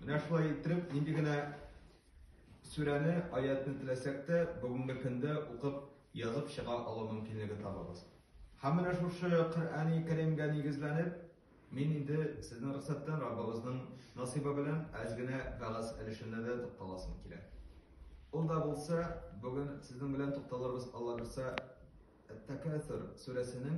Менә шулай иттереп, нинди генә сүрәне, аятны теләсәк тә, бүгенге көндә укып, язып чыга алу мөмкинлеге табабыз. Һәм менә шушы Коръәни Кәримгә нигезләнеп, мин инде сезнең рөхсәттән Раббыбызның насыйбы белән әз генә вәгазь өлешенә дә тукталасым килә. Ул да булса, бүген сезнең белән тукталырбыз, Алла бирса, Әт-Тәкәсүр сүрәсенең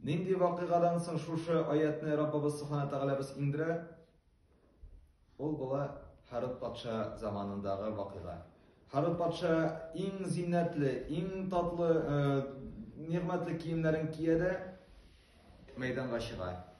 Нинди вакыйгадан соң шушы аятьне Раббыбыз Субхана Тәгаләбез иңдерә? Ул була Харут патша заманындагы вакыйга. Харут патша иң зиннәтле, иң татлы, э, нигъмәтле киемнәрен кия дә мәйданга чыга.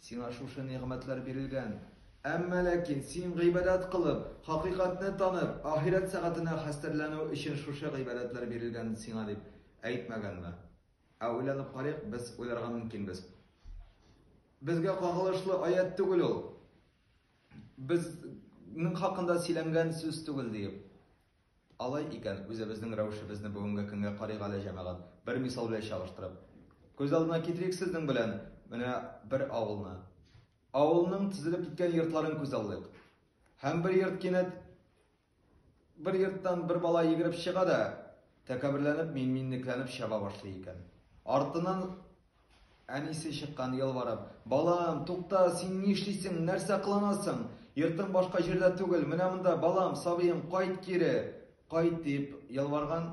Сиңа шушы нигъмәтләр бирелгән. Әмма ләкин син гыйбадәт кылып, хакыйкатьне танып, ахирәт сәгатенә хәстәрләнү өчен шушы гыйбадәтләр бирелгән сиңа дип әйтмәгәнме? Ә уйланып карыйк, без уйларга мөмкинбез. Безгә кагылышлы аять түгел ул. Безнең хакында сөйләнгән сүз түгел диеп. Алай икән, үзебезнең рәвешебезне бүгенге көнгә карыйк әле, җәмәгать, бер мисал белән чагыштырып. Күз алдына китерик сезнең белән менә бер авылны. Авылның тезелеп киткән йортларын күз алдык. Һәм бер йорт кинәт бер йорттан бер бала йөгереп чыга да, тәкәбберләнеп, мин-минлекләнеп чаба башлый икән. Артыннан Әнисе чыккан, ялварып. Балам, тукта, син ни эшлисең, нәрсә кыланасың? Йортың башка җирдә түгел, менә монда, балам, сабыем, кайт кире! Кайт, диеп ялварган.